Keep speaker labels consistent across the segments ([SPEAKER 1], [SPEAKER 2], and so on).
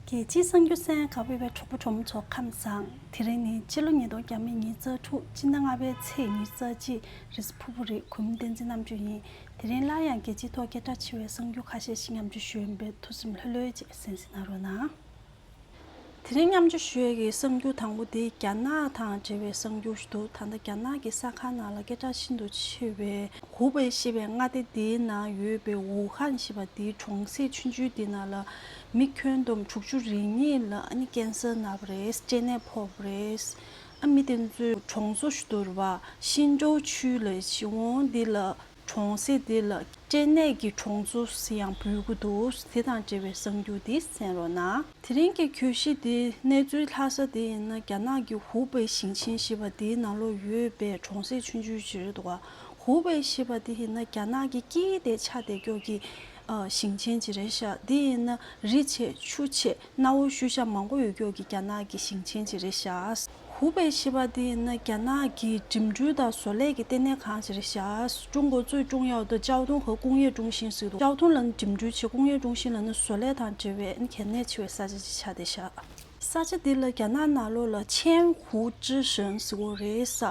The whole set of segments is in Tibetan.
[SPEAKER 1] རྒྱལ་སྤྱིའི་གསང་རྒྱུད་གསན་ཡང་ག་བོད་པའི་གྲོགས་པོ་གྲོགས་མོ་ཚོ་ཁམས་བཟང། དེ་རིང་ནི་སྤྱི་ལོ་ཉིས་སྟོང་གྱ་མི་གཉིས་རྩ་དྲུག་སྤྱི་ཟླ་ལྔ་པའི་ཚེས་ཉེར་རྩ་གཅིག་རེས་ཕུར་བུ་རིགས་གོ་མིང་བསྟན་འཛིན་རྣམ་དཔྱོད་ཡིན། དེ་རིང་སླར་ཡང་རྒྱལ་སྤྱིའི་ཐོག་སྐད་གྲགས་ཆེ་བའི་གསང་རྒྱུད་ཁ་ཤས་ཤིག་མཉམ་འཇུ་ཞོའི་འབེལ་ཐུ་སིམ་ལྷོད་ལྷོད་ཅེས་གསན་ཟིན་ན་རོགས་གནང། དེ་རིང་མཉམ་འཇུ་ཞོའི་གི་གསང་རྒྱུད་དང་པོ་དེ་རྒྱ་ནག་དང་འབྲེལ་བའི་གསང་རྒྱུད་ཞིག་འདུག་ད་ལྟ་རྒྱ་ནག་གི་གསར་ཁང་ནང་ལ་སྐད་གྲགས་ཤིན་ཏུ་ཆེ་བའི་ཧུའུ་པེ་ཞེས་པའི་མངའ་སྡེ་དེའི་ནང་ཡོད་པའི་ཝུའུ་ཧན་ཞེས་པ་དེའི་གྲོང་གསེབ་ཆུན་ཆུན་དེ་ན་ལ་མི་ཁྱོན་བསྡོམས་དྲུག་ཅུ་རེ་གཉིས་ལ་ཀན་སུལ་མནབས་པ་རེད། སྐྱེ་གནས་ཕོག་པ་རེད། མི་དེ་ཚོས་གྲོང་ཚོ་བསྡུར་བ་ཤིན་ཅོ་ཆུས་ལ་ཤི་འོང་འདི་ལ་གྲོང་གསེབ་འདི་ལ་སྐྱེ་གནས་ཀྱི་གྲོང་ཚོ་ཟེར་ཡང་འབུལ་དགོས་འདུག་དེ་དང་འབྲེལ་བའི་གསང་རྒྱུ་འདི་གསན་རོགས་གནང། དེ་རིང་གི་གྱོད་གཞི་འདི་གནས་ཚུལ་ལྷག་ས་དེ་ཡིན་ན་རྒྱ་ནག་གི་ཧུའུ་པེ་ཞིང་ཆེན་ཞེས་པ་འདིའི་ནང་ལོགས་ཡོད་པའི་གྲོང་གསེབ་ཆུང་ཆུང་ཞིག་རེད་འདུག་ཧུའུ་པེ་ཞེས་པ་འདི་ཡིན་ན་རྒྱ་ནག་གི་སྐྱིད་དེ་ཆ་དེ་སྐྱོར་གྱི་ཞིང་ཆེན་གྱི་རེད་ཤག་འདི་ཡིན་ན་རི་ཆེ་ཆུ་ཆེ་གནའ་བོའི་ཤུལ་བཞག་མང་པོ་ཡོད་སྐྱོར་གྱི་རྒྱ་ནག་གི་ཞིང་ཆེན་གྱི་རེད་ཤག། ཧུའུ་པེ་ཞེས་པ་འདི་ཡིན་ན་རྒྱ་ནག་གི་འགྲིམ་འགྲུལ་དང་བཟོ་ལས་ཀྱི་ལྟེ་གནས་ཁང་གྱི་རེད་ཤག་ཀྲུང་གོ་ཙུའི་ཀྲུང་ཡའོ་ཏི་ཅའོ་ཏུང་ཧོ་ཀུང་ཡེ་ཀྲུང་ཞིན་ཞིག་ཏུ་ཅའོ་ཏུང་ལ་ནི་འགྲིམ་འགྲུལ་ཆེ་ཀུང་ཡེ་ཀྲུང་ཞིན་ལ་ནི་བཟོ་ལས་དང་འབྲེལ་བའི་གལ་གནད་ཆེ་བའི་ས་ཆ་ཅིག་ཆགས་བསྡད་ཤག། ས་ཆ་འདི་ལ་རྒྱ་ནག་ནང་ལོགས་ལ་ཆན་ཧུའུ་ཀྲི་ཞིན་ཞེས་འོ་རེད་ས་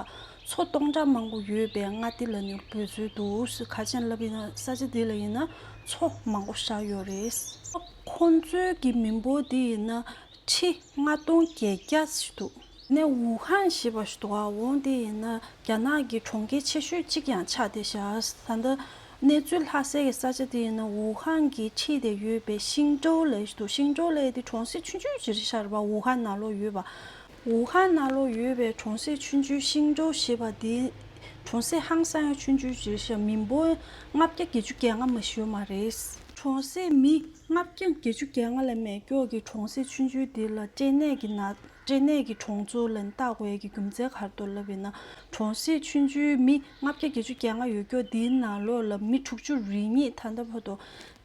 [SPEAKER 1] མཚོ་སྟོང་ཕྲག་མང་པོ་ཡོད་པའི་མངའ་སྡེ་ལ་མྱུར་བུད་ཚུལ་འདུག་ཁ་ཆེམས་ལབ་ཡིན་ན་ས་ཆ་འདི་ལ་ཡིན་ན་མཚོ་མང་པོ་བཞག་ཡོད་རེད། ཁོ་ཚོའི་གི་མི་འབོར་འདི་ཡིན་ན་ཁྲི་ལྔ་སྟོང་བརྒྱད་བརྒྱ་ཞིག་འདུག། ནས་ཝུ་ཧན་ཞེས་པ་ཞིག་འདུག་འོང་འདི་ཡིན་ན་རྒྱ་ནག་གི་གྲོང་ཁྱེར་ཆེ་ཤོས་གཅིག་ཀྱང་ཆགས་ཏེ་བཞག་ད་ལྟ་གནས་ཚུལ་ལྷ་སའི་གི་ས་ཆ་འདི་ཡིན་ན་ཝུ་ཧན་གི་ཁྲི་དེ་ཡོད་པའི་ཤིང་ཀྲོའུ་ལའི་ཞིག་འདུག་ཤིང་ཀྲོའུ་ལའི་དེ་གྲོང་གསེབ་ཆུང་ཆུང་ཞིག་རེད་ཤག་རེད་པ་ཝུ་ཧན་ནང་ལོགས་ཡོད་པ། ཝུའུ་ཧན་ན་ལོ་ཡོད་པའི་གྲོང་གསེབ་ཆུན་ཅུའི་ཤིང་ཀྲོའུ་ཞེས་པ་འདི། གྲོང་གསེབ་ཧང་སང་ཡང་ཆུན་ཅུའི་རྗེས་ཤ་མིན་པོ་ལྔ་བརྒྱ་བརྒྱད་ཅུ་བརྒྱད་ལྔ་མ་ཞོལ་མ་རེད། གྲོང་གསེབ་མི་ལྔ་བརྒྱ་བརྒྱད་ཅུ་བརྒྱད་ལྔ་ལ་མེ་སྒྱོགས་ཀྱི་གྲོང་གསེབ་ཆུན་ཅུའི་འདི་ལ་སྐྲན་ནད་ཀྱི་ནད་སྐྲན་ནད་ཀྱི་གྲོང་ཚོ་ལ་ནི་སྟག་ཝལ་གྱི་རྒྱུ་མཚན་གར་གཏོར་ལབ་པས་ན་གྲོང་གསེབ་ཆུན་ཅུའི་མི་ལྔ་བརྒྱ་བརྒྱད་ཅུ་བརྒྱད་ལྔ་ཡོད་སྐྱོ་འདིའི་ནང་ལོགས་ལ་མི་དྲུག་ཅུ་རེ་གཉིས་ད་ལྟ་བར་དུ་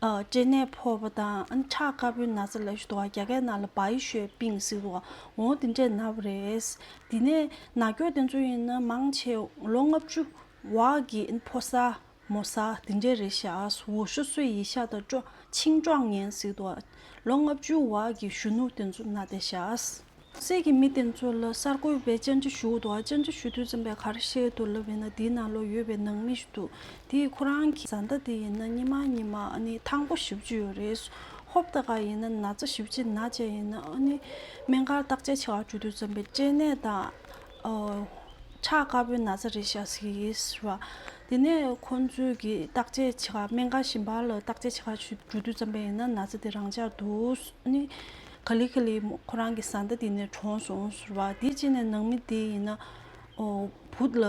[SPEAKER 1] སྐྲན་ནད་ཕོག་པ་དང་ཁྲག་དཀར་པོའི་ན་ཚ་ལས་བྱུང་བ་རྒྱ་སྐད་ནང་ལ་བ་ཡི་ཤོད་པིང་ཟེར་དུ་འོང་དེ་འདྲས་ན་བ་རེད། དེ་ནས་ན་སྐྱོགས་དེ་ཚོ་ཡིན་ན་མང་ཆེ་བ་ལོ་ལྔ་བཅུ་བ་གི་ཕོ་ས་མོ་ས་དེ་འདྲས་རེད་ཤག་འོ་ཤོ་སོས་ཡི་ཤ་དང་ཆིང་ཀྲོག་ངན་ཟེར་དུ་ལོ་ལྔ་བཅུ་བ་གི་གཞོན་ནུ་དེ་ཚོ་ན་བསྡད་ཤག། སྲས་ཀྱི་མི་དེ་ཚོ་ལ་གསར་འགོད་པས་བཅར་འདྲི་ཞུ་འདུག་བཅར་འདྲི་ཞུ་དུས་ཚན་པས་ག་རེ་བཤད་འདུག་ལབ་ཡིན་ན་དེའི་ནང་ལོག་ཡོད་པའི་ནང་མི་ཞིག་འདུག་དེས་ཁོ་རང་གི་བཟའ་ཟླ་དེ་ཡིན་ན་གཉིས་མ་གཉིས་མ་ཨ་ནི་ཐང་པོ་བཞི་བཅུ་ཡོད་རེད་ཧོབ་ཏ་ག་ཡིན་ན་ན་ཚ་བཞི་བཅུ་ན་བཅས་ཡིན་ན་ཨ་ནི་སྨན་སྒར་བརྟག་དཔྱད་བྱ་བར་འགྲོ་དུས་ཚན་པས་སྐྱེ་གནས་དང་ཁྲག་དཀར་པོའི་ན་ཚ་རེད་བཤད་ཟིག་ཡིན་ཟེར་བ། དེ་ནས་ཁོ་ཚོས་གི་བརྟག་དཔྱད་བྱེད་ཁར་སྨན་སྒར་བཞི་འབར་ལ་བརྟག་དཔྱད་བྱེད་ཁར་འགྲོ་དུས་ཚན་པས་ཡིན་ན་ན་ཚ་དེ་རང་འཇགས་འདུག་ཨ་ནི། ག་ལི་ག་ལི་མོ་ཁོ་རང་གི་བཟའ་ཟླ་དེ་ནས་གྲོངས་སོང་ཟེར་བ་དེ་ཅི་ནས་ནང་མི་དེ་ཡིན་ན་ཨོ། བུ་ལ།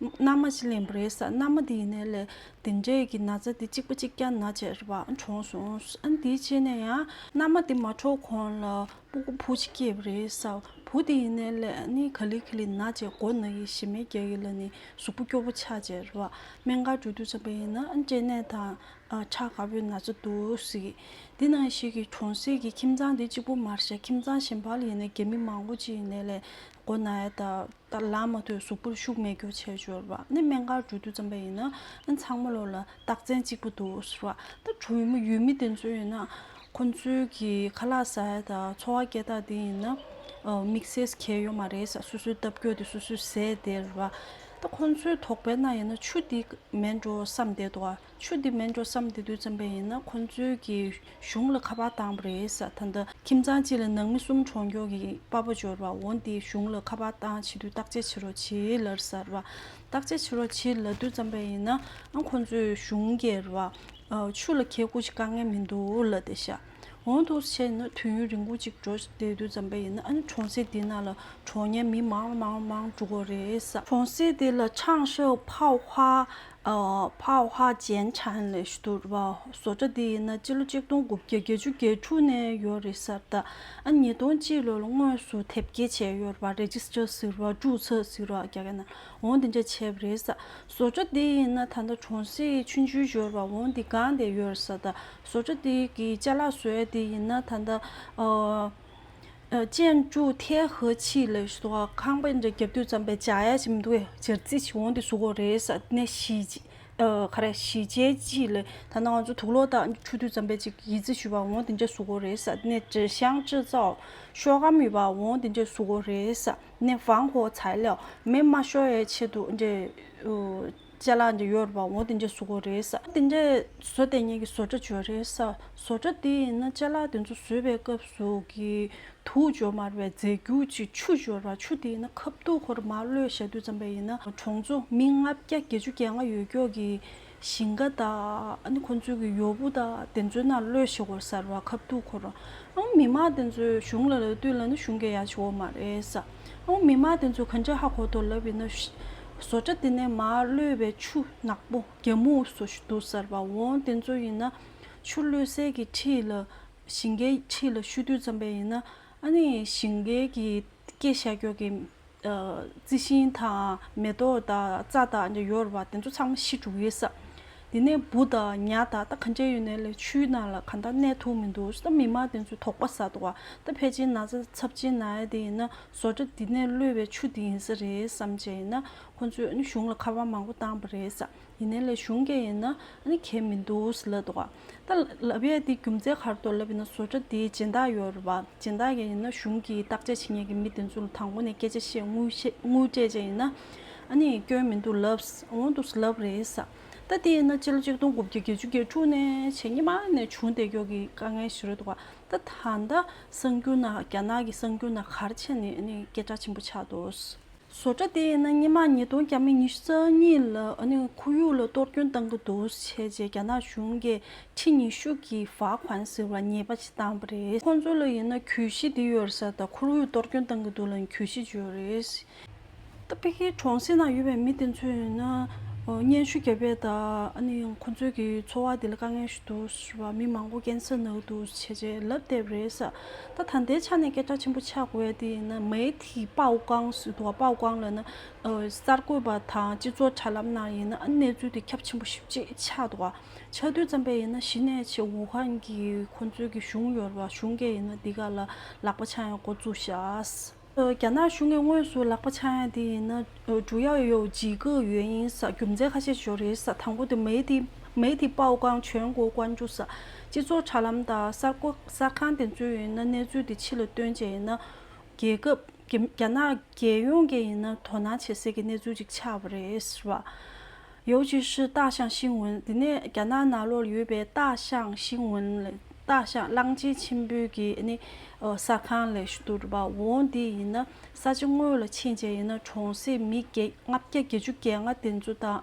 [SPEAKER 1] མནའ་མ་ཅི་ལེན་པོ་རེད་ས་མནའ་མ་དེ་ཡིན་ནའི་ལས་དེ་འདྲས་ཀྱི་ན་ཚ་དེ་གཅིག་པ་གཅིག་ཀྱང་ན་བྱས་རེད་བ་གྲོངས་སོང་ཨན་དེ་ཅི་ནས་ཡང་མནའ་མ་དེ་མ་གྲོངས་གོང་ལ་སྤུ་གུ་བུ་གཅིག་སྐྱེས་པོ་རེད་ས་བུ་དེ་ཡིན་ནའི་ལས་ནི་ག་ལི་ག་ལི་ན་བྱས་མགོ་ན་ཡི་ཞི་མེ་རྒྱ་ཡི་ལ་ནི་གཟུགས་པོ་སྐྱོ་བོ་ཆགས་བྱས་རེད་བ་སྨན་ཁང་འགྲོ་དུས་ཙམ་པ་ཡིན་ན་ཨན་སྐྲན་ནད་དང་ཁྲ་དཀར་པོའི་ན་ཚ་འདུག་གཟིགས། འདི་ན་ཞིག་གི་གྲོང་གསེབ་ཀྱི་ཁྱིམ་ཚང་དེ་གཅིག་པོ་མར་ཤ་ཁྱིམ་ཚང་གཞན་པ་ལ་ཡིན་ན་རྒྱ་མི་མང་པོ་གཅིག་ཡིན་ནའི་ལས་སྒོ་ན་ཡོད། ད་ལམ་མ་ཐོས་གཟུགས་པོར་ཤུགས་མེད་རྒྱུ་བྱས་འབྱོར་བ་ནི་སྨན་ཁང་འགྲོ་དུས་ཙམ་པ་ཡིན། ཨ་ཚང་མ་ལོ་ལ་རྟགས་མཚན་གཅིག་པོ་འདུག་ཟེར་བ། ད་གྲོང་མི་ཡུལ་མི་དེ་ཚོ་ཡིན་ན། ཁོང་ཚོའི་གི་ཁ་ལག་ཟ་ཡ་དང་འཚོ་བ་སྐྱེལ་སྟངས་དེ་ཡིན་ན། དམིགས་བསལ་གལ་ཡོད་མ་རེད་ས་སོ་སོའི་སྟབས་ཀྱོ་དེ་སོ་སོས་ཟས་དེར་བ། ད་ཁོང་ཚོའི་དོགས་པའི་ནང་ཡིན་ན་ཆུ་འདི་མེད་འགྲོ་བསམ་བསྡད་འདུག་ཨ། ཆུ་འདི་མེད་འགྲོ་བསམ་དེ་དུས་བརྩམས་པས་ཡིན་ན་ཁོ་ཚོའི་གི་གཞུང་ལ་ཁ་པར་བཏང་བ་རེད་ས་ད་ལྟ་ཁྱིམ་ཚང་གཅིག་ལ་ནང་མི་གསུམ་གྲོང་འགྱོག་གི་དཔའ་བོ་འབྱོར་བ་འོ་འདི་གཞུང་ལ་ཁ་པར་བཏང་བྱེད་དུས་བརྟག་དཔྱད་བྱེད་རོགས་བྱེད་ལར་ས་ར་བ་བརྟག་དཔྱད་བྱེད་རོགས་བྱེད་ལ་དུས་བརྩམས་པས་ཡིན་ན་ཨང་ཁོ་ཚོའི་གཞུང་གི་ར་བ་ཆུ་ལ་ཁད་ཁུག་ཅིག་དཀའ་ངལ་མི་འདུག་ལ་དེ་ཤ་འོང་དུ་བྱས་ཡིན་ན་དུས་ཡུན་རིང་པོ་ཅིག་འགྲོ་དེ་དུས་བརྩམས་པས་ཡིན་ན་ཨང་གྲོང་གསེབ་དེ་ནང་ལ་གྲོགས་ངན་མི་མང་མང་མང་འགྲོ་གི་རེད་ས། གྲོང་གསེབ་དེ་ལ་ཆང་ཤོག་ཕའོ་ཧ་བྷ་བྷ་ཅན་ཆན་ལེ་ཤུ་དུར་བ་བཟོ་གྲྭ་འདི་ཡིན་ན་སྤྱི་ལོ་ཆིག་སྟོང་དགུ་བརྒྱ་བརྒྱད་ཅུ་བརྒྱད་ཕྲུག་ནས་ཡོད་རེད་གསར་དར་ཨ་ཉིས་སྟོང་གཅིག་ལོ་ལ་དངོས་སུ་དེབ་སྐྱེལ་བྱས་ཡོད་རེད་བ Register ཟེར་བ་བྲུག་ཚགས་ཟེར་བ་རྒྱ་སྐད་ནང་འོང་འདི་འདྲ་བྱས་པ་རེད་གསར་བཟོ་གྲྭ་འདི་ཡིན་ན་ད་ལྟ་གྲོང་གསེབ་ཆུ་འཇུ་ཞོར་བ་འོང་འདི་གང་བསྡད་ཡོད་རེད་གསར་དར་བཟོ་གྲྭ་འདི་གི་བཅའ་ལག་བཟོས་འདི་ཡིན་ན་ད་ལྟ། ཅན་ཅུའུ་ཐའེ་ཧི་ཆི་ལི་སོགས་ཁང་པའི་འདྲེ་རྒྱབ་དུས་རྩམ་པའི་བྱ་ཡ་ཞིག་མི་འདུག་བས་ཇེར་རྩིས་ཞིག་འོང་དུས་ཟུག་གོ་རེད་ས་ནས་ཞི་ཅེ་ཆི་ལི་ད་ནང་ང་ཚོ་དུག་ལོག་དང་ཆུ་དུས་རྩམ་པའི་ཅིག་ཡིད་རྩིས་ཞུས་པ་འོང་དེ་འདྲས་ཟུག་གོ་རེད་ས་ནས་ཀྲི་ཞང་ཀྲི་ཙའོ་ཤོ་གམ་ཡོད་པ་འོང་དེ་འདྲས་ཟུག་གོ་རེད་ས་ནས་ཧྥང་ཧོ་ཚའེ་ལའོ་མེ་མ་ཤོ་ཡའི་ཆེད་དུ་འདྲེ་ལྕེ་ལ་འདི་ཡོད་རེད་པ་འོ་འདི་འདྲའི་བཟོ་དགོས་རེད། འདི་འདྲའི་བཟོ་དེ་ཉིད་ཀྱི་བཟོ་གྲྭ་བྱོས་རེད། བཟོ་གྲྭ་དེ་ཡིན་ན་ལྕེ་ལ་དེ་ཚོ་བཟོས་པའི་སྐབས་སུ་གི་དུག་སྦྱོར་མ་རེད་པས་རྫས་རྒྱུ་ཅིག་ཆུ་སྦྱོར་བ་ཆུ་དེ་ཡིན་ན་ཁབ་དུག་ཧོ་རུ་མ་གློད་ཞག་དུས་ཙམ་པ་ཡིན་ན་གྲོང་ཚོ་མི་ལྔ་བརྒྱ་བརྒྱད་ཅུ་བརྒྱད་ལྔ་ཡོད་ཀྱོག་གི་ཞིང་ཁ་དང་ཁོ་ཚོའི་གི་ཡོ་བུ་དང་དེ་ཚོའི་ནང་གློད་ཞིག་ཧོ་ཟེར་བ་ཁབ་དུག་ཧོ་རུ། མི་མང་དེ་ཚོའི་གཞུང་ལ་ལ་ལྟོས་ལ་ན་གཞུང་གི་ཡ་ཆེ་བོ་མ་རེད། ཨོ་མི་མ་དེ་ཚོ་གན་རྒྱ་ཧ་གོ་དོ་ལབ་ཡིན་ན། བཟོ་གྲ་དེ་ནས་མར་གློད་པའི་ཆུ་ནག་པོ་རྒྱ་མུ་བཟོ་ཞིག་འདུག་ཟེར་བ་འོང་དེ་ཚོ་ཡིན་ན། ཆུ་གློད་གསེར་གྱི་ཁྲི་ལ་ཞིང་ཁའི་ཁྲི་ལ་ཤུ་དུས་ཙམ་པའི་ཡིན་ན། ཨ་ནི་ཞིང་ཁའི་གི་སྐྱེ་ཤ་སྐྱོག་གི། རྩི་ཤིང་དང་མེ་ཏོག་དང་རྩྭ་དང་ཡོར་བ་དེ་ཚོ་ཚང་མ་ཤི་འགྲོ་གི་ས། དེ་ནས་བུ་དང་ཉལ་ད་ལྟ་གང་བྱས་ཡོད་ནས་ལས་ཆུའི་ནང་ལ་གང་ལྟར་གནས་ཐུབ་མི་འདུག་ད་མི་དམངས་དེ་ཚོས་དོགས་པ་ཟ་འདུག་བ་ད་ཕལ་ཆེར་ན་ཚ་ཚབ་ཆེན་ན་ཡ་དེ་ཡིན་ན་བཟོ་གྲ་འདི་ནས་གློད་པའི་ཆུ་དེ་ཡིན་ས་རེད་བསམ་བྱས་ཡིན་ན་ཁོ་ཚོས་གཞུང་ལ་ཁ་པར་མང་པོ་བཏང་བ་རེད་ས་ཡིན་ནས་ལས་གཞུང་སྐད་ཡིན་ན་གལ་མི་འདུག་ཟེར་ལབ་འདུག་བ་ད་ལབ་ཡས་དེ་རྒྱུ་མཚན་གར་དུ་ལབ་ཡིན་ན་བཟོ་གྲ་དེ་སྦྱིན་བདག་ཡོད་རེད་བ་སྦྱིན་བདག་ག་ཡིན་ན་གཞུང་གིས་བརྟག་དཔྱད་བྱེད་ཉན་གི་མི་དེ་ཚོ་ལ་དང་པོ་ནས་སྐད་ཆ་བཤད་དངུལ་སྤྲད་བྱས་ཡིན་ན། ཨ་ནི་སྐྱོན་མི་འདུག་ལབ། འོང་འདུག་ལབ་རེད། ད་དེས་ན་སྤྱི་ལོ་གཅིག་སྟོང་དགུ་བརྒྱ་བརྒྱད་ཅུ་བརྒྱད་དྲུག་ནས་ཕྱི་ཉིན་མ་ནས་བྱུང་འདས་མགྱོགས་ཀྱི་དཀའ་ངལ་ཞིག་རེད་འདུག་ད་ད་ལྟ་གསང་རྒྱུ་ན་རྒྱ་ནག་གི་གསང་རྒྱུ་ན་གར་ཆས་ནི་ཨ་ནི་སྐད་གྲགས་ཆེན་པོ་ཆགས་འདུག། བཟོ་གྲྭ་དེས་ན་ཉིན་མ་ཉིས་སྟོང་གྱ་མི་ཉི་ཤུ་རྩ་གཉིས་ལ་ཨ་ནི་ཁོར་ཡུག་ལ་གཏོར་སྐྱོན་བཏང་གི་འདུག་བྱས་རྗེས་རྒྱ་ནག་གཞུང་གིས་ཁྲི་ཉི་ཤུ་གྱི་བག་ཧོན་ཟེར་བ་ཉེས་པ་ཞིག་བཏང་བ་རེད། ཁོང་ཚོ་ལ་ཡིན་ན་གྱོད་གཞི་འདི་ཡོད་རེད་ས་དང་ཁོར་ཡུག་གཏོར་སྐྱོན་བཏང་གི་འདུག་ལ་ཡང་གྱོད་གཞི་བརྗོད་རེད། ཏི་པི་ཀིའི་གྲོང་གསེབ་ན་ཡོད་པའི་མི་དེ་ཚོས་ཡིན་ན་སྙན་ཞུ་བརྒྱབ་པས་ད་ཨ་ནི་ཁོ་ཚོའི་གི་འཚོ་བ་དེ་ལ་དཀའ་ངལ་ཞིག་འདུག་ཞེས་པ་མི་མང་པོ་ཀན་སུའུ་ནག་ཏུ་བྱས་རྗེས་ལབ་བསྡད་རེད་ས་ད་ད་ལྟའི་ཆ་ནས་སྐད་གྲགས་ཆེན་པོ་ཆགས་དགོས་ཡ་དེ་ཡིན་ན་མའེ་ཐི་པའོ་ཀང་ཟེར་འདུག་པའོ་ཀང་ལ་ན་གསར་འགོད་པ་དང་སྤྱི་ཚོགས་དྲ་ལམ་ནང་ཡིན་ན་ཨ་ནི་གནས་ཚུལ་དེ་ཁྱབ་ཆེན་པོ་ཞིབ་ཅིག་ཆགས་འདུག་ཆགས་དུས་ཙམ་པས་ཡིན་ན་གཞི་ནས་ཆེ་ཝུ་ཧན་གི་ཁོ་ཚོའི་གི་གཞུང་ཡོར་བ་གཞུང་སྐད་ཡིན་ན་འདི་ག་ལ་ལག་པ་འཆང་ཡང་འགོ་བཙུགས་ཤགས། རྒྱ་ནག་གཞུང་གིས་དངོས་སུ་ལག་པ་འཆང་ཡ་དེ་ཡིན་ན་ཀྲུའུ་ཡའོ་ཡའོ་ཇི་གི་ཡོན་ཡིན་ས་རྒྱུ་མཚན་ཁ་ཤས་ཞོ་རེད་ས་དང་པོ་དེ་མེའི་ཏི་མེའི་ཏི་པའོ་ཀང་ཆོན་གོ་ཀོན་ཅུ་ས་སྤྱི་ཚོགས་དྲ་ལམ་དང་གསར་འགོ་གསར་ཁང་དེ་ཚོས་ཡིན་ན་གནས་ཚུལ་དེ་ཕྱི་ལ་སྟོན་བྱས་ཡིན་ན་རྒྱལ་ཁབ་རྒྱ་ནག་རྒྱལ་ཡོངས་ཀྱི་ཡིན་ན་དོ་སྣང་བྱེད་སའི་གི་གནས་ཚུལ་ཅིག་ཆགས་པ་རེད་ཟེར་བ། ཡོའུ་ཅུས་ཧྲི་ཏཱ་ཞང་ཤིང་ཝུན་འདི་ནི་རྒྱ་ནག་ནཱ་ལོར་ཡོད་པའི་ཏཱ་ཞང་ཤིང་ཝུན། ཏཱ་ཞང་གླང་ཆེན་ཆེན་པོའི་གི་ནི་ས་ཁང་ལས་གཏོར་བ་འོང་འདི་ཡིན་ན་ས་ཆ་དངོས་ལ་ཕྱིན་བྱས་ཡིན་ན་གྲོང་གསེབ་མི་བརྒྱད་ལྔ་བརྒྱ་བརྒྱད་ཅུ་བརྒྱད་ལྔ་དེ་ཚོ་དང་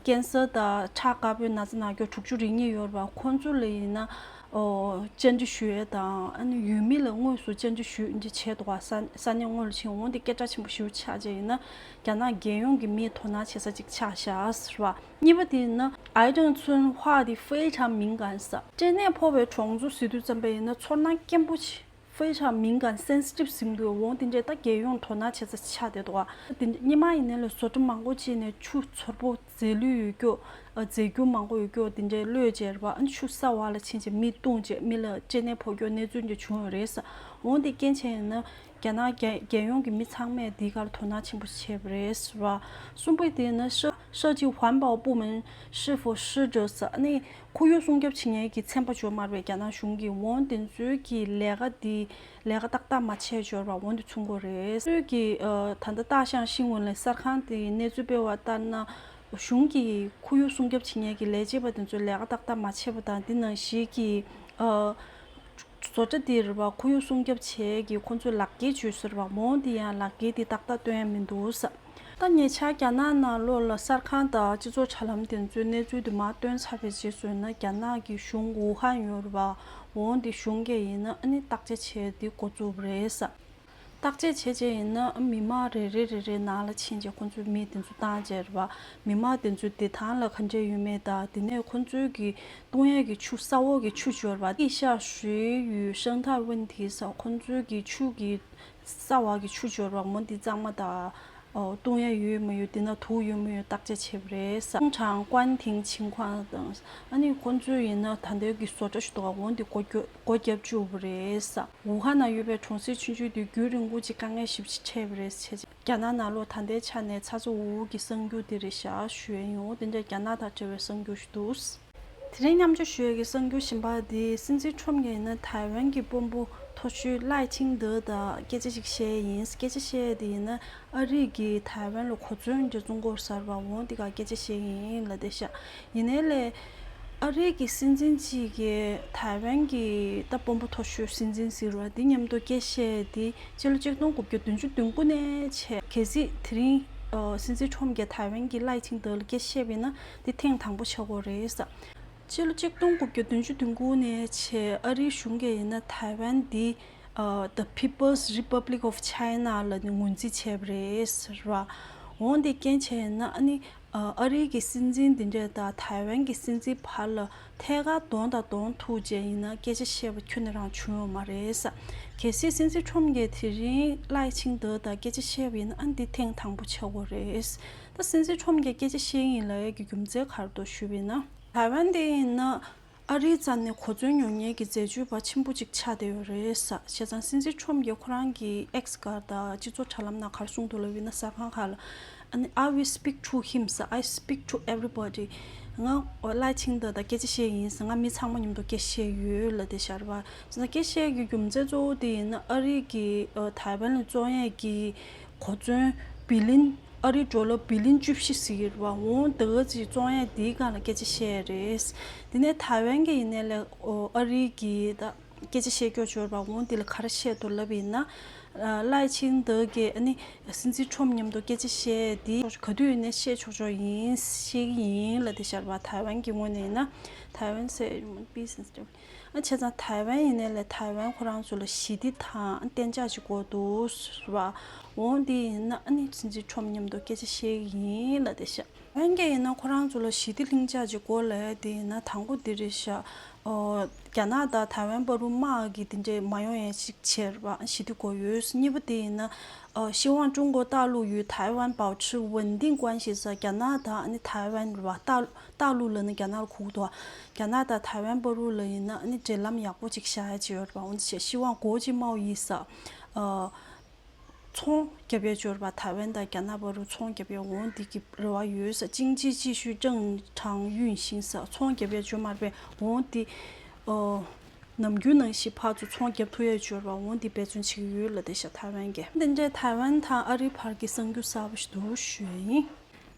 [SPEAKER 1] ཀན་སུའུ་དང་ཁྲ་དཀར་པོའི་ན་ཚ་ནག་སྐྱོར་དྲུག་ཅུ་རེ་གཉིས་ཡོད་པ་ཁོ་ཚོ་ལ་ཡིན་ན་བཅར་འདྲི་ཞུ་ཡས་དང་ཨ་ནི་ཡུལ་མི་ལ་དངོས་སུ་བཅར་འདྲི་ཞུ་འདི་བྱས་འདུག་བ་ས་གནས་དངོས་ལ་ཕྱིན་འོང་འདི་སྐད་གྲགས་ཆེན་པོ་ཞུ་ཆགས་བྱས་ཡིན་ན་རྒྱ་ནག་རྒྱལ་ཡོངས་ཀྱི་མིས་དོ་སྣང་བྱེད་ས་གཅིག་ཆགས་ཤཱས་ར་བ། གཉིས་པ་དེ་ནི་ཨའི་ཀྲང་ཚུན་བྷ་དེ་ཧྥེ་ཧྲང་མིང་གང་ས། སྐྲན་ནད་ཕོག་པའི་གྲོང་ཚོ་ཟི་དུས་རྩམ་པ་ཡིན་ན་ཚོར་སྣང་སྐྱེན་པོ་ཆེ་ཧྥེ་ཧྲང་མིང་གང Sensitive ཟིན་དགོས་འོང་དེ་འདྲས་ད་རྒྱལ་ཡོངས་དོ་སྣང་བྱེད་ས་ཆགས་བསྡད་འདུག་ཨ་དེ་འདྲས་སྙེ་མ་ཡིན་ན་ལས་བཟོ་གྲ་མང་པོ་བྱས་ནས་ཆུ་ཚོར་པོ་རྫས་ལུད་ཡོད་རྒྱུ་ཨ་རྫས་རྒྱུ་མང་པོ་ཡོད་རྒྱུ་དེ་འདྲས་བློས་བྱས་ར་བ་ཨ་ཆུ་ས་བ་ལ་ཕྱིན་རྗེས་མི་བཏུང་རྗེས་མི་ལ་སྐྲན་ནད་ཕོག་རྒྱུ་གནས་ཚུལ་འདྲས་བྱུང་ཡོད་རེད་ས་འོང་དེ་རྐྱེན་ཆེན་ཡིན་ན་རྒྱ་ནག་རྒྱལ་ཡོངས་ཀྱི་མི་ཚང་མས་འདི་གར་དོ་སྣང་ཆེན་པོ་བྱེད་པ་རེད། གསུམ་པ་དེ་ནི་ཧྲི་ཅིན་ཧུའན་པའོ་པུའུ་མིན་ཧྲི་ཧྥུ་ཧྲི་ཀྲི་སི་ནི་ཁོར་ཡུག་སྲུང་སྐྱོབ་བྱེད་མཁན་གྱི་ཚན་པ་འཇོག་མར་བའི་རྒྱ་ནག་གཞུང་གིས་བོན་བདེན་འཚོལ་གྱི་ལས་ཀ་འདི་ལས་ཀ་ཏག་ཏག་མ་བྱས་འབྱོར་བ་བོན་དུ་ཚུད་མགོ་རེད། ཁོས་ཀྱིས་ད་ལྟ་སྟག་ཤང་ཤིང་བོན་ལས་གསར་ཁང་དེའི་གནས་ཚུལ་སྤེལ་བ་ལྟར་ན། གཞུང་གིས་ཁོར་ཡུག་སྲུང་སྐྱོབ་བྱེད་མཁན་གྱི་ལས་བྱེད་པ་དེ་ཚོའི་ལས་ཀ་ཏག་ཏག་མ་བྱས་པ་དང་དེ་ནང་བཞིན་གྱི། བཟོ་གྲྭ་འདིར་བ་ཁོ་ཡུག་སྲུང་སྐྱོབ་བྱས་ཀྱི་ཁོ་ཚོས་ལག་འགྱེལ་བྱོས་ཟེར་བ་མོ་འདི་ཡང་ལག་འགྱེལ་དེ་ཏག་ཏག་སྟོན་ཡ་མི་འདུག་བསམ། ད་ཉེ་ཆར་རྒྱ་ནག་ནང་ལོགས་ལ་གསར་ཁང་དང་སྤྱི་ཚོགས་དྲ་ལམ་དེ་ཚོས་གནས་ཚུལ་དུ་མ་སྟོན་ཚར་བའི་རྗེས་སུ་ཡིན་ན་རྒྱ་ནག་གི་གཞུང་ཝུ་ཧན་ཡོད་རུ་བ་འོང་དེ་གཞུང་སྒེར་ཡིན་ན་ཨ་ནི་བརྟག་དཔྱད་བྱས་དེ་འགོ་བཙུགས་པ་རེད་བསམ། བརྟག་དཔྱད་བྱས་རྗེས་ཡིན་ན་མི་དམངས་རེ་རེ་རེ་རེའི་ནང་ལ་ཕྱིན་རྗེས་ཁོ་ཚོས་མི་དེ་ཚོ་བཏང་རྗེས་རེད་པ། མི་དམངས་དེ་ཚོའི་བདེ་ཐང་ལ་ག་འདྲའི་ཡོད་མེད་དང་དེ་ནས་ཁོ་ཚོའི་གི་ཏུང་ཡན་གི་ཆུ་ས་འོག་གི་ཆུ་སྦྱོར་བ། ཨེ་ཤ་ཧྲུའེ་ཡུའུ་ཧྲེང་ཐར་དབྱིན་དྷི་ས་ཁོ་ཚོའི་གི་ཆུ་གི་ས་འོག་གི་ཆུ་སྦྱོར་བ་མོ་འདི་གཙང་མ་དང་ཏུང་ཡན་ཡོད་མ་ཡོད་དེ་ནང་དུག་ཡོད་མ་ཡོད་བརྟག་དཔྱད་བྱས་པ་རེད་ས། ཀྲུང་ཧྲང་ཀུའན་ཐིང་ཆིང་ཁོང་དང། ཨ་ནི་ཁོ་ཚོས་ཡིན་ན་ད་ལྟའི་གི་བཟོ་གྲྭ་ཞིག་འདུག་ག་འོ་འདི་གོ་རྒྱུ། སྒོ་བརྒྱབ་བཅུག་པ་རེད། ཝུ་ཧན་ན་ཡོད་པའི་གྲོང་གསེབ་ཆུང་ཆུང་དུ་རྒྱུན་རིང་པོ་གཅིག་དཀའ་ངལ་ཞིབ་ཕྱི་འཕྲད་པ་རེད་ཟེར། རྒྱ་ནག་ནང་ལོ་ད་ལྟའི་ཆ་ནས་ཚ་ཚ་འུར་འུར་གྱི་གསར་འགྱུར་དེ་རེད་ཤག་ཞུས་ཨེ་ཡོང་དེ་འདྲ་རྒྱ་ནག་དང་བྲལ་བའི་གསར་འགྱུར་ཞིག་འདུག། དེ་རིང་མཉམ་འབྱོར་ཞོལ་གྱི་གསར་འགྱུར་ཞིབ་འབར་དེ་སྲིད་འཛིན་ཁྲོམ་གྱི་ཡིན་ན་ཐའེ་ཝན་གྱི་དཔོན་པོ་ཐོ་ཆུས་ལའེ་ཆིང་ཏེ་དང་སྐད་ཆ་ཞིག་བཤད་ཡིན་སྐད་ཆ་བཤད་དེ་ཡིན་ན་ཨ་རིག་གིས་ཐའེ་ཝན་ལ་གོ་མཚོན་གྱིས་བཙོང་སྐོར་གསར་པ་འོང་དེ་ག་སྐད་ཆ་བཤད་ཡིན་ལ་དེ་ཤག་ཡིན་ནའི་ལས། ཨ་རིག་གི་སྲིད་འཛིན་གཅིག་གིས་ཐའེ་ཝན་གྱི་རྟ་སྤོམ་པོ་མཐོ་ཤོས་སྲིད་འཛིན་ཟེར་བ་འདི་མཉམ་དུ་སྐད་བཤད་དེ་སྤྱི་ལོ་གཅིག་སྟོང་དགུ་བརྒྱ་བདུན་ཅུ་བདུན་དགུ་ནས་བྱས། གལ་སྲིད་དེ་རིང་སྲིད་འཛིན་ཁྲོམ་རྒྱལ་ཐའེ་ཝན་གྱི་ལའི་ཆིང་ཏོའུ་ལ་སྐད་བཤད་པས་ན་འདི་ཐེངས་དང་པོ་ཆགས་སྒོ་རེད། སྤྱི་ལོ་གཅིག་སྟོང་དགུ་བརྒྱ་བདུན་ཅུ་བདུན་དགུ་ནས་བྱས་ཨ་རིའི་གཞུང་གིས་ཡིན་ན་ཐའེ་ཝན་འདི The People's Republic of China ལ་ནི་ངོས་འཛིན་བྱས་པ་རེད་ཟེར་བ་འོང་དེ་རྐྱེན་བྱས་ཡིན་ན་ཨ་ནི། ཨ་རིའི་གི་སྲིད་འཛིན་འདི་འདྲས་དང་ཐའེ་ཝན་གི་སྲིད་འཛིན་བར་ལ་ཐད་ཀར་གདོང་དང་གདོང་ཐུག་བྱས་ཡིན་ན་སྐད་ཆ་བཤད་པ་ཁྱོན་ནས་རང་བྱུང་ཡོང་མ་རེད། གལ་སྲིད་སྲིད་འཛིན་ཁྲོམ་གྱིས་དེ་རིང་ལའེ་ཆིང་ཏོ་དང་སྐད་ཆ་བཤད་པ་ཡིན་ན་འདི་ཐེངས་དང་པོ་ཆགས་དགོས་རེད། ད་སྲིད་འཛིན་ཁྲོམ་གྱིས་སྐད་ཆ་བཤད་ཡིན་ལའེ་གི་རྒྱུ་མཚན་གར་འདུག་ཞུས་པ་ཡིན་ན། ཐའེ་ཝན་དེ་ཡིན་ན། ཨ་རིའི་རྩ་ནས་གོ་མཚོན་ཉོ་ཉེན་གྱི་འཛད་སྤྱོད་པ་ཆེན་པོ་གཅིག་ཆགས་བསྡད་ཡོད་རེད། བྱས་ཙང་སྲིད་འཛིན་ཁྲོམ་གྱིས་ཁོ་རང་གི X སྒར་དང་སྤྱི་ཚོགས་དྲ་ལམ་ནང་གར་སོང་འདུག་ལ་བི་ན་ཟ་ཁང་ཁག་ལ I will speak to him ཟེར I speak to everybody ང་བླ་ཆེན་དག་དང་སྐད་ཆ་བཤད་ཡིན་ཟེར་ང་མི་ཚང་མ་མཉམ་དུ་སྐད་བཤད་ཡོད་ལ་དེ་ཤར་བ། བྱས་ཙང་སྐད་བཤད་ཀྱི་རྒྱུ་མཚན་གཙོ་བོ་དེ་ཡིན་ན་ཨ་རིག་གིས་ཐའེ་ཝན་ལ་བཙོན་ཡས་ཀྱིས་གོ་མཚོན། བི་ལིན། ཨ་རིའི་འགྲོ་ལུགས་བི་ལིན་བཅུ་བཞི་ཟེར་བ་འོང་འདི་ག་ཅིག་བཙོང་ཡས་འདིའི་སྒང་ལ་སྐད་ཆ་བཤད་ཡས་རེད། དེ་ནས་ཐའི་ཝན་གྱི་ཡིན་ནས་ལས་ཨ་རི་གི་ད་སྐད་ཆ་བཤད་སྐྱོ་སྦྱོར་བ་འོང་འདི་ལ་ག་ར་བཤད་དུ་ལབ་ཡིན་ན། བླའི་ཆིང་འདི་གས་ཨ་ནི་སྲིད་འཛིན་ཁྲོམ་མཉམ་དུ་སྐད་ཆ་བཤད་འདི་ག་དུས་ཡིན་ནས་བཤད་ཆོག་ཆོག་ཡིན་ཤེས་གི་ཡིན་ལ་དེ་ཤར་བ་ཐའི་ཝན་གྱི་ངོས་ནས་ཡིན་ན་ཐའི་ཝན་སའི། བྱས་ཙང་ཐའེ་ཝན་ཡིན་ནའི་ལས་ཐའེ་ཝན་ཁོ་རང་ཚོ་ལ་ཞི་བདེ་དང་གཏན་འཇགས་ཅིག་དགོས་འདུག་བ་འོང་དེ་ཡིན་ན་ནི་ཟིན་ཟིན་ཁྲོམ་མཉམ་དུ་སྐད་ཆ་བཤད་གི་ཡིན་ལ་དེ་ཤ། ཝན་སྐད་ཡིན་ན་ཁོ་རང་ཚོ་ལ་ཞི་བདེ་ལྷིང་འཇགས་ཅིག་དགོས་ལས་དེ་ཡིན་ན་དང་པོ་དེ་རེད་ཤ། རྒྱ་ནག་དང་ཐའེ་ཝན་བར་རུ་དམག་གི་དེ་འདྲས་མ་ཡོང་ཡས་ཅིག་བྱས་བ་ཞི་བདེ་དགོས་ཡོད་གཉིས་པ་དེ་ཡིན་ན་ཤེས་དབང་ཀྲུང་གོ་ཏག་ལུགས་ཡུལ་ཐའེ་ཝན་བའོ་ཆི་ཝུན་ཏིང་ཀོན་ཞེས་ས་རྒྱ་ནག་དང་ནི་ཐའེ་ཝན་རུ་བ་ཏག་ལུགས་ལ་ནི་རྒྱ་ནག་རུ་ཁུག་དོ་རྒྱ་ནག་དང་ཐའེ་ཝན་པར་བུ་ལ་ཡིན་ན་ནི་འབྲེལ་ལམ་ཡག་པོ་ཅིག་བྱ་ཡ་ཅི་ཡོད་པ་འོན་ཆེ་ཤི་ཝང་གོ་ཅི་མའོ་ཡིས་ས་ཚོང་རྒྱབ་ཡ་འབྱོར་བ་ཐའེ་ཝན་དང་རྒྱ་ནག་བར་བུ་ཚོང་རྒྱབ་ཡ་འོང་འདི་གི་རེ་བ་ཡོད་ས་ཅིང་ཅི་ཅི་ཤུས་ཀྲང་ཁྲང་ཡུན་ཤིང་ས་ཚོང་རྒྱབ་ཡ་འབྱོར་མར་བས་འོང་འདི་ནམ་རྒྱུན་ནང་བཞིན་ཕག་ཚོ་ཚོང་རྒྱབ་ཐུ་ཡ་འབྱོར་བ་འོང་འདི་འབད་བརྩོན་བྱེད་ཀྱི་ཡོད་ལ་དེ་ཤ་ཐའེ་ཝན་གྱི། དེ་འདྲའི་ཐའེ་ཝན་དང་ཨ་རི་བར་གྱི་གསང་རྒྱུ་གསར་བ་ཞིག་འདུག་ཞུ་ཡ་ཡིན།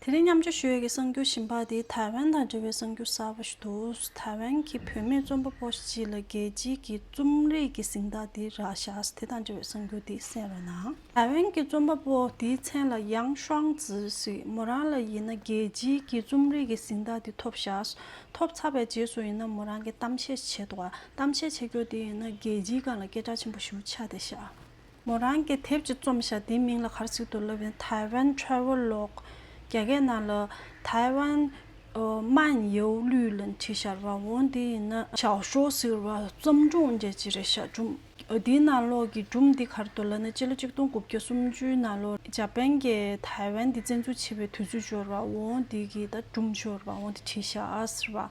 [SPEAKER 1] དེ་རིང་མཉམ་སྤྱོད་ཞུ་ཡུལ་གྱི་གསར་འགྱུར་ཞིབ་འབག་དེ་ཐའེ་ཝན་དང་འབྲེལ་བའི་གསར་འགྱུར་གསར་པ་ཞིག་འདུག་ཐའེ་ཝན་གྱི་བུད་མེད་རྩོམ་པ་པོ་ཞིག་ལ་རྒྱལ་སྤྱིའི་གི་རྩོམ་རིག་གི་གཟེངས་རྟགས་དེ་རག་བཞག་དེ་དང་འབྲེལ་བའི་གསར་འགྱུར་དེ་གསན་བའི་ནང། ཐའེ་ཝན་གྱི་རྩོམ་པ་པོ་དེའི་མཚན་ལ་ཡང་ཧྲང་ཙི་ཞིག་མོ་རང་ལ་ཡིན་ན་རྒྱལ་སྤྱིའི་གི་རྩོམ་རིག་གི་གཟེངས་རྟགས་དེ་ཐོབ་བཞག་ཐོབ་ཚར་བའི་རྗེས་སུ་ཡིན་ན་མོ་རང་གི་གཏམ་བཤད་བྱེད་དོ་གཏམ་བཤད་བྱེད་རྒྱུ་དེ་ཡིན་ན་རྒྱལ་སྤྱིའི་སྒང་ལ་སྐད་གྲགས་ཆེན་པོ་ཞུ་འཆར་དེ་བཞག་མོ་རང་གི་དེབ་ཀྱི་རྩོམ་བྱ་དེའི་མིང་ལ་གར་ཚིག་ཏུ་བསླབས་པའི Taiwan Travelogue རྒྱ་སྐད་ནང་ལ་ཐའེ་ཝན་མན་ཡོའུ་ལུས་ལ་འཁྲིད་ཞར་བ་འོང་དེ་ཡིན་ན། ཞའོ་ཞོ་ཟེར་བ་བརྩམས་སྒྲུང་རྒྱ་སྤྱི་རེ་ཞྭ་སྒྲུང། དེའི་ནང་ལོགས་ཀྱི་སྒྲུང་འདི་གར་དུ་ལ་ནི་སྤྱི་ལོ་ཆིག་སྟོང་དགུ་བརྒྱ་སུམ་ཅུའི་ནང་ལོར་ཇཱ་པན་གྱིས་ཐའེ་ཝན་འདི་བཙན་འཛུལ་བྱས་པའི་དུས་ཚོད་སྦྱོར་བ་འོང་དེ་གི་ད་སྒྲུང་སྦྱོར་བ་འོང་དེ་འཁྲིད་ཞར་བ།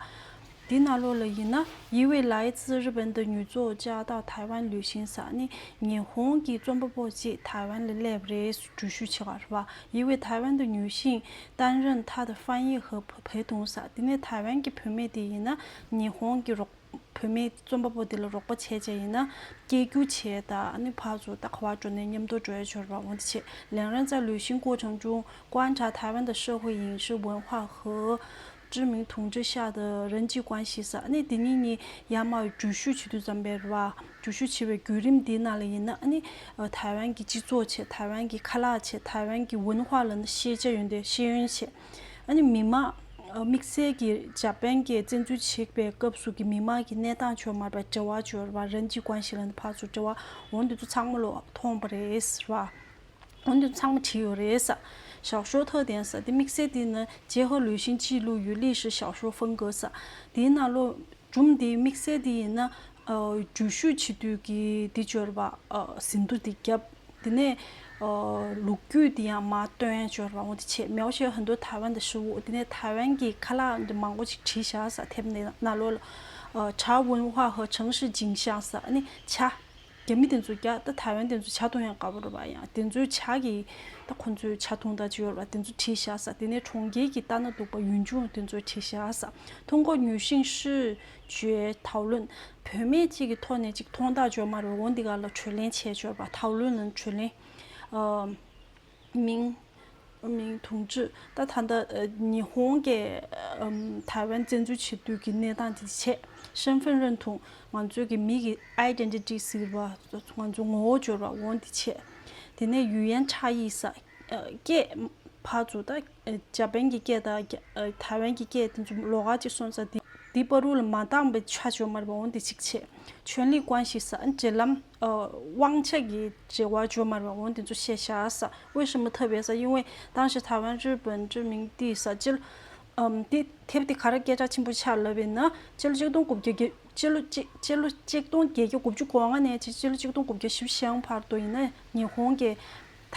[SPEAKER 1] འདི་ན་ལོ་ལ་ཡིན་ན་ཡི་ཝེ་ལའི་ཙི་རི་བན་དུ་ཉུལ་ཙོ་ཅཱ་དང་ཐའེ་ཝན་ལུས་ཤིང་ས་ནི་ཉི་ཧོང་གི་རྩོམ་པ་པོ་གཅིག་ཐའེ་ཝན་ལ་སླེབས་རེས་འགྲུལ་བཞུད་བྱེད་བར་བ་ཡི་ཝེ་ཐའེ་ཝན་དུ་ཉུལ་ཞིང་ཏན་རིན་ཐ་དང་ཧྥན་ཡི་ཧི་བྷེ་དུང་ས་དེ་ནས་ཐའེ་ཝན་གྱི་བུད་མེད་དེ་ཡིན་ན་ཉི་ཧོང་གི་བུད་མེད་རྩོམ་པ་པོ་དེ་ལ་རོགས་པ་བྱས་བྱས་ཡིན་ན་སྐྱེ་རྒྱུ་བྱས་ད་ནི་ཕ་ཚོ་ད་ཁ་བ་དྲོ་ནས་ཉམས་དོ་དྲོའི་འབྱོར་བ་འོང་དེ་ཆེད་ལེང་རན་ཙ་ལུས་ཤིང་ཀོ་ཆང་ཅུང་ཀོང་ཁྲ་ཐའེ་ཝན་དུ་ཧྲི་ཧུའེ་ཡིང་ཧྲི་ཝུན་ཧྭ་ཧི་ཅི་མིན་དུང་ཅོ་ཤ་དང་རིན་གྱིས་བཀང་ཞེས་སོགས་ནི་དེ་གཉིས་ནི་ཡར་མར་བར་འགྲུལ་བཞུད་བྱེད་དུས་ཙམ་པའི་རེད་བ། འགྲུལ་བཞུད་བྱེད་པའི་བརྒྱུད་རིམ་དེའི་ནང་ལ་ཡིན་ན་ནི། ཐའེ་ཝན་གྱི་སྤྱི་ཚོགས་ཆེད་ཐའེ་ཝན་གྱི་ཁ་ལག་ཆེད་ཐའེ་ཝན་གྱི་ཝུན་ཧྭ་ལ་ནི་ཤེས་བྱ་ཡོད་འདོད་ཤེས་ཡོན་ཆེད། ནི་མི་དམངས། དམིགས་བསལ་གྱིས་འཇར་པན་གྱིས་བཙན་འཛུལ་བྱེད་པའི་སྐབས་སུ་གི་མི་དམངས་ཀྱི་གནས་སྟངས་ཆོད་མར་བའི་འབྲེལ་བ་བཅོལ་བ་རིན་གྱིས་བཀང་ཞེས་ལ་ནི་ཕར་ཚུར་འབྲེལ་བ་འོང་དུས་ཚོ་ཚང་མ་ལོག་མཐོང་བ་རེད་བ། ཨོ་འདི་ཚང་མ་བྲིས་ཡོད་རེད་ས། ཞའོ་ཞའོ་ཐའོ་ཐན་ས་དེ་དམིགས་བསལ་དེ་ནི་ཇེ་ཧོ་ལུའི་ཤིང་ཅིའི་ལུའུ་ཡུས་ལི་ཧྲི་ཞའོ་ཞའོ་ཧྥུང་གོ་ས། དེའི་ནང་ལོ་རྒྱུམ་དེ་དམིགས་བསལ་དེ་ཡིན་ན། འགྲུལ་བཞུད་བྱེད་དུས་ཀྱི་དེ་འབྱོར་བ། ཟིན་ཐོ་དེ་བརྒྱབ། དེ་ནས་ལུག་རྒྱུད་དེ་ཡང་མ་སྟོན་འབྱོར་བ་འོ་དེ་བྱས། མའོ་ཞའོ་ཧན་དུ་ཐའེ་ཝན་དུ་ཧྲི་འུ་དེ་ནས་ཐའེ་ཝན་གྱི་ཁ་ལག་འདི་མང་པོ་ཅིག་བྲིས་བཞག་ས་ཐེབས་ནས་ན་ལོ་ལ། ཁྲའོ་ཝུན་ཧྭ་ཧོ་ཆང་ཧྲི་ཇིང་ཤང་ས་ནི་ཆ། རྒྱ་མི་དེ་ཚོ་རྒྱ་ད་ཐའེ་ཝན་དེ་ཚོ་བྱ་ཐུང་ཡང་དགའ་བོར་བ་ཡང་དེ་ཚོའི་བྱ་གི་ད་ཁོ་ཚོའི་བྱ་ཐུང་དང་ཅི་ཡོར་བ་དེ་ཚོ་བྲིས་བཞག་ས་དེ་ནས་གྲོང་ཁྱེར་གྱི་ལྟ་ན་སྡུག་པ་ཡུན་ཅུང་དེ་ཚོའི་བྲིས་བཞག་ས་ཐུང་གོ་ཉུས་ཤིང་ཧྲི་ཅུའེ་ཐའོ་ལུན་བུད་མེད་གཅིག་གི་ཐོག་ནས་ཅིག་ཐོང་ཐག་འཇོག་མ་རེ་འོང་འདི་ག་ལ་དྲོད་ལེན་བྱས་འཇོར་བ་ཐའོ་ལུན་ལུན་དྲོད་ལེན། མིང། མིང། དུང་ཕྱུར། ད་ལྟ་ཉི་ཧོང་གིས་ཐའེ་ཝན་བཙན་འཛུལ་བྱེད་དུས་ཀྱི་གནས་སྟངས་དེ་ཆེད་ཧྲེན་ཧྥེན་རོན་དུང་ང་ཚོས་ཀྱི་མི་ཡི Identity ཟེར་བ་ང་ཚོ་ངོ་བོ་འབྱོར་བ་འོང་དེ་ཆེད་དེ་ནས་ཡུལ་ཡན་ཆ་ཡིས་ས་སྐྱེས་ཕ་ཚུ་ད་འཇར་པན་གྱི་སྐད་དང་ཐའེ་ཝན་གྱི་སྐད་དེ་ཚོ་ལོགས་ཀ་ཅིག་སོང་ཙང་དེ་དེའི་དཔའ་རུ་ལ་མ་འདང་པའི་ཆ་བྱོན་མར་བ་འོང་དེ་ཅིག་བྱས། ཆོན་ལི་ཀོན་ཞིག་ས་འབྲེལ་ལམ། དབང་ཆ་གྱི་འབྲེལ་བ་བྱོན་མར་བ་འོང་དེ་ཚོ་ཤེས་བྱ་ས་འོས་ཤིང་མི་ཐུབ་པའི་ས་དབྱིན་ཝེ་ཏང་ཞེས་ཐའེ་ཝན་རི་བོན་ཅི་མིང་དེའི་ས་བཅུ། དེ་དེབ་དེ་ག་རེ་སྐད་ཆ་ཆེན་པོ་ཆགས་ལབ་པའི་ནི་སྤྱི་ལོ་གཅིག་སྟོང་དགུ་བརྒྱ་དགུ་སྤྱི་ལོ་སྤྱི་ལོ་གཅིག་སྟོང་བརྒྱད་བརྒྱ་དགུ་བཅུ་གོང་ལྔ་ནས་སྤྱི་ལོ་གཅིག་སྟོང་དགུ་བརྒྱ་ཞིབ་བཞེངས་བར་དུ་ཡིན་ན་ཉི་ཧོང་གི་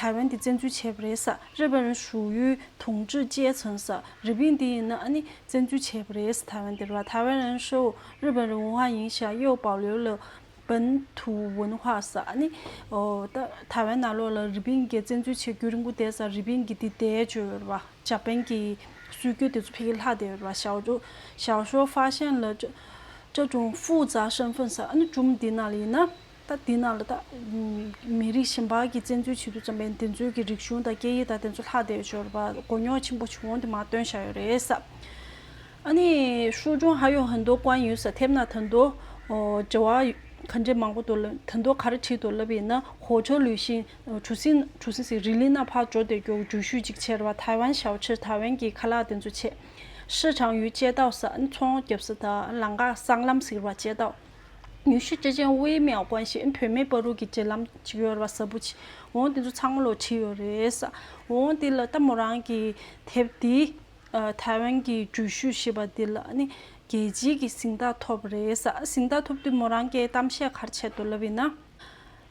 [SPEAKER 1] ཐའེ་ཝན་དེ་བཙན་འཛུལ་བྱས་པ་རེད་ས་རེད་བ་རན་ཧྲུའུ་ཡུའི་དུང་ཀྲི་ཅེས་མཚོན་ས་རི་པིན་དེ་ཡིན་ན་ཨ་ནི་བཙན་འཛུལ་བྱས་པ་རེད་ས་ཐའེ་ཝན་དེར་བ་ཐའེ་ཝན་རན་ཧྲུའུ་རི་བན་རི་ཝུན་ཧྭ་ཡིན་ཤ་ཡོའུ་པའོ་ལིའུ་ལི་བན་དུ་ཝུན་ཧྭ་ས་ཨ་ནི་ཐའེ་ཝན་ནང་ལོགས་ལ་རི་པིན་གྱིས་བཙན་འཛུལ་བྱེད་རྒྱུ་རིང་པོ་འདས་ས་རི་པིན་གྱིས་དེ་བདེ་བྱོས་ཡོད་བ་ཇཱ་པན་གྱི་སྲོལ་རྒྱུན་དེ་ཚོ་ཕི་གིས་ལྷག་བསྡད་ཡོད་བ་ཞའོ་ཞའོ་ཧྲོའུ་ཧྥ་ཤན་ལི་ཀྲ་ཀྲུང་ཧྥུའུ་ཙཱ་ཧྲན་ཧྥུན་ས་ཨ་ནི་ཀྲུམ་དེ་ནང་ལ་ཡིན་ན་ད་དེ་ནང་ལ་དག་མི་རིགས་གཞན་པ་གྱིས་བཙན་འཛུལ་བྱེད་དུ་བརྩམས་པའི་འདི་ཚོའི་གི་རིག་གཞུང་དང་སྐད་ཡིག་དག་དེ་ཚོ་ལྷག་བསྡད་ཤོར་བ་མགོ་རྙོག་ཆེན་པོ་བྱུང་དེ་མ་སྟོན་བཞག་ཡོད་རེད་ས་ཨ་ནི་ཧྲུའུ་ཅུང་ཧྭ་ཡོ་ཧན་དོ་ཀོན་ཡུལ་ས་ཐེབས་ན་ད་དོ་འབྲེལ་བ་ག་འདྲེ་མང་པོ་དོ་ལ་ད་དོ་ག་རེ་བྲིས་དོ་ལབ་ཡིན་ན་ཧོ་ཆོ་ལུས་ཤིན་གྲུ་སིན་གྲུ་སིན་སི་རི་ལི་ན་ཕག་འབྱོ་དེ་གྱོ་འགྲུལ་ཤུལ་ཅིག་ཆེར་བ་ཐའི་ཝན་ཞའོ་ཆེར་ཐའི་ཝན་གྱི་ཁ་ལག་དེ་ཚོ་ཆེ་ཧྲི་ཆང་ཡུལ་བཅད་ཏའོ་ས་ཨ་ནི་ཚོང་རྒྱབ་ས་དང་ལང་ཀ་སྲང་ལམ་ཟིག་ར་བཅད་ཏའོ། ཉུལ་ཞིབ་བྱེད་ཅིང་དབྱེ་མི་དགོས་ཤིང་བུད་མེད་པ་རུ་གི་བརྗེད་ལམ་ཅིག་ཡོད་པ་གསལ་པོ་མཆིས་འོང་དེ་ཚོ་ཚང་མ་ལོ་ཁྲི་ཡོད་རེད། འོང་དེ་ལ་ལྟ་མོ་རང་གི་དེབ་འདི་ཐའེ་ཝན་གྱི་འགྲུལ་བཞུད་ཞེས་པ་འདི་ལ་ནི་རྒྱལ་སྤྱིའི་གི་གཟིངས་རྟགས་ཐོབ་པ་རེད། གཟིངས་རྟགས་ཐོབ་དུས་མོ་རང་སྐད་གཏམ་བཤད་གར་ཆད་དུ་ལབ་ཡིན་ན།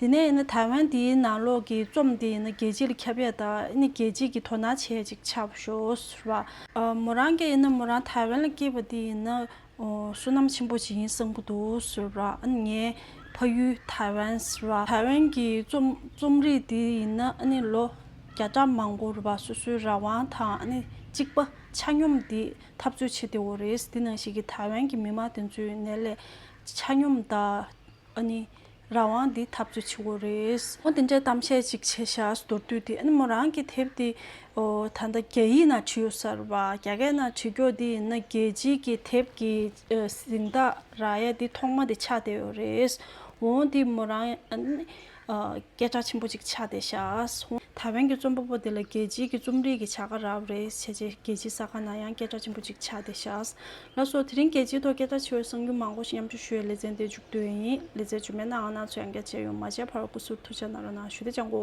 [SPEAKER 1] དེ་ནས་ཡིན་ན་ཐའེ་ཝན་འདིའི་ནང་ལོགས་ཀྱི་རྩོམ་འདི་ཡིན་ན་རྒྱལ་སྤྱི་ལ་ཁྱབ་ཡ་ད་ཡིན་ན་རྒྱལ་སྤྱི་གིས་དོ་སྣང་བྱེད་ཅིག་ཆ་ཞོས་ར། མོ་རང་རྒྱ་ཡིན་ན་མོ་རང་ཐའེ་ཝན་ལ་སྐྱེས་པ་འདི་ཡིན་ན་བསོད་ནམས་ཆེན་པོ་ཞིག་ཡིན་བསམ་གྱི་འདུག་ཞོས་ར་ཨ་ནི་ངའི་ཕ་ཡུལ་ཐའེ་ཝན་ར། ཐའེ་ཝན་གྱི་རྩོམ་རྩོམ་རིག་འདི་ཡིན་ན་ཨ་ནི་ལོ་བརྒྱ་ཕྲག་མང་པོ་ར་སོ་སོའི་རང་དབང་དང་ཨ་ནི་གཅིག་པ་ཆ་སྙོམས་འདི་འཐབ་རྩོད་བྱེད་བདེ་བོ་རེད་འདི་ནང་བཞིན་གྱི་ཐའེ་ཝན་གྱི་མི་དམངས་དེ་ཚོའི་ནད་ལས་ཆ་སྙོམས་ད། ཨ་ནི། རང་དབང་འདི་ཐབས་ཀྱི་ཆུ་བོ་རེད། མོ་དེ་འདྲའི་གཏམ་བཤད་ཅིག་བྱས་ཤག་མདོར་བསྡུས་ཏེ་ཨ་ནི་མོ་རང་གི་དེབ་དེ། ཨོ། ད་ལྟ་རྒྱ་ཡིག་ན་བྲིས་ཡོད་གསར་བ་རྒྱ་སྐད་ན་བྲིས་མགྱོགས་འདི་ཡིན་ན་རྒྱལ་སྤྱིའི་གི་དེབ་གི་གཟིངས་རྟགས་ར་ཡ་འདི་ཐོག་མ་དེ་ཆགས་བསྡད་ཡོད་རེད། འོང་འདི་མོ་རང། སྐད་གྲགས་ཆེན་པོ་ཅིག་ཆགས་ཏེ་བཞགས་སོང། ཐའེ་ཝན་གྱི་རྩོམ་པ་པོ་དེ་ལ་རྒྱལ་སྤྱིའི་གི་རྩོམ་རིག་གི་བྱ་དགའ་རག་རེད་བྱས་རྗེས་རྒྱལ་སྤྱིའི་ས་ཁ་ན་ཡང་སྐད་གྲགས་ཆེན་པོ་ཅིག་ཆགས་ཏེ་བཞགས་ལ་སོ་དེ་རིང་རྒྱལ་སྤྱིའི་ཐོག་སྐད་གྲགས་ཆེ་བའི་གསང་རྒྱུན་མང་པོ་ཞིག་མཉམ་སྤྱོད་ཞུ་ཡའི་ལེ་ཚན་འདིར་འཇུག་འདོད་ཡིན། ལེ་ཚན་རྗུན་མའི་ནང་ང་ཚོ་ཡང་བསྐྱར་མཇལ་ཡོང་མ་མཇལ་བར་སྐུ་གཟུགས་ཐུགས་ཅག་ན་རོ་ན་ཞུ་བདེ་ཅག་མགོ།